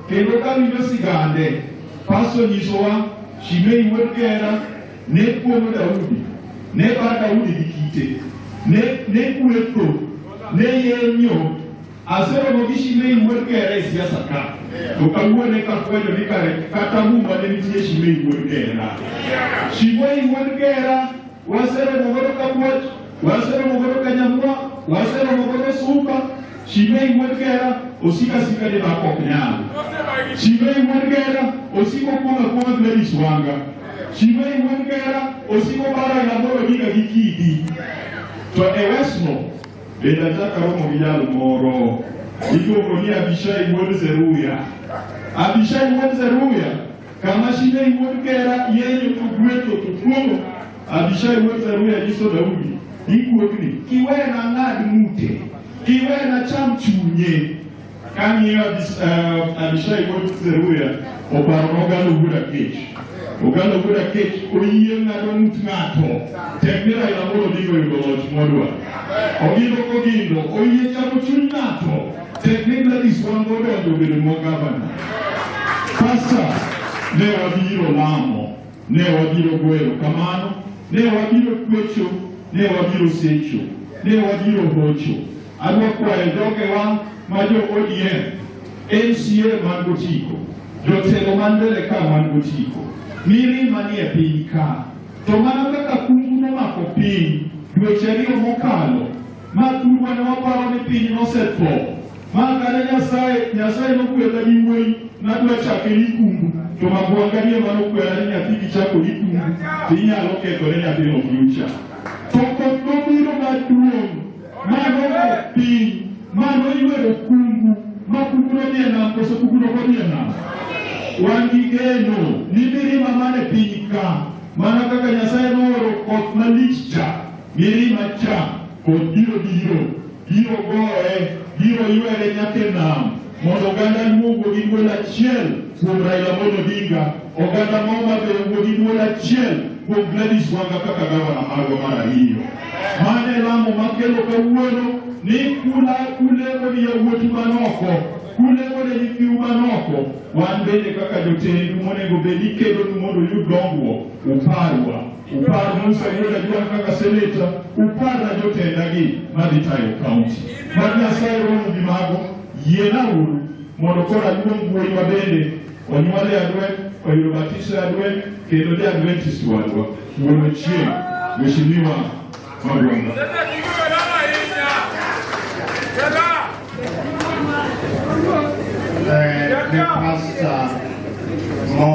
kendo ka winjo sigande. Pasto nyisowa Shimei wuod Gera ne kuomo Daudi, ne bar Daudi gi kite, ne ne kuetho, ne yenyo. Aseromo gi Shimei wuod Gera e siasa ka, to kawuone kafwenyo ni kare kata muma ne nitie Shimei wuod Gera. Shimei wuod Gera waseromo godo Kabuoch, waseromo godo Kanyamwa, waseromo godo Suka, Shimei wuod Gera osiko asika ni dhako ok nyal. Shimei wuod Gera osiko kuono kuono Gladys Wanga. Shimei wuod Gera osiko bara Nyamoro Diga gi Kidi. To e Westmo bende achako aromo gi jal moro iluongo ni Abishai wuod Zeruya. Abishai wuod Zeruya kama Shimei wuod Gera yeye to gwetho to kuono Abishai wuod Zeruya nyiso Daudi ni guogni kiwe na ng'ad ng'ute kiwe na cham chunye kang'iyo eh, Abishai wuod Zeruya oparo nogalo wuod Akech ogalo wuod Akech oyie ng'ado ng'ut ng'ato tek ni Raila Amolo Odinga oyudo loch modwa ogindo kogindo oyie chamo chuny ng'ato tek ni Gladys Wanga odonjo obedo nwa gavana pasta ne wabiro lamo Ne wabiro goyo kamano, ne wabiro kwecho, ne wabiro secho, ne wabiro hocho. Adwa kwayo jogewa ma jo ODM, MCA man gotiko, jotelo man mbele ka man gotiko, miri manie piny ka. To mana kaka kungu nomako piny dweche ariyo mokalo, ma thurwa ne waparo ni piny nosetho, Makane Nyasaye, Nyasaye nokwela gi wuoyi nadwa chake ni kumbu, to magwanga ni ema nokwela ni nyathi kichako ni kumbu, to inyalo kethore nyathino future. To koth nobiro maduong' ma nogo piny ma noywero kumbu ma kumbu nodhi e nam koso kumbu nokodhi e nam. Wan gi geno ni mirima mane piny ka mana kaka Nyasaye nooro koth malich cha mirima cha kod biro biro Biro gore, biro ywere nyaka e nam, mondo oganda luo wuo gi dwol achiel kuom Raila Amolo Odinga, oganda ma Homa Bay owuo gi dwol achiel kuom Gladys Wanga kaka gavana marwa mar ariyo. Mano e lamo makelo kawuono ni kula kulemo ni yawuotu man oko, kulemo ne nyithiu man oko. Wan bende kaka jotendu monego bed ni kedonu mondo uyud dongruok, uparwa. Upar Musa Yuda Juan kaka seneta, uparna jotendagi madhi tayo kaunti. Mad Nyasaye romo gi mago, yiena uru mondo koro aluong wuoyi ma bende onyuol e Adwen, oyudo batiso e Adwen, kendo ja Adventist wadwa, wuon Ochieng, Mheshimiwa Magwanda. Eh, ni pasta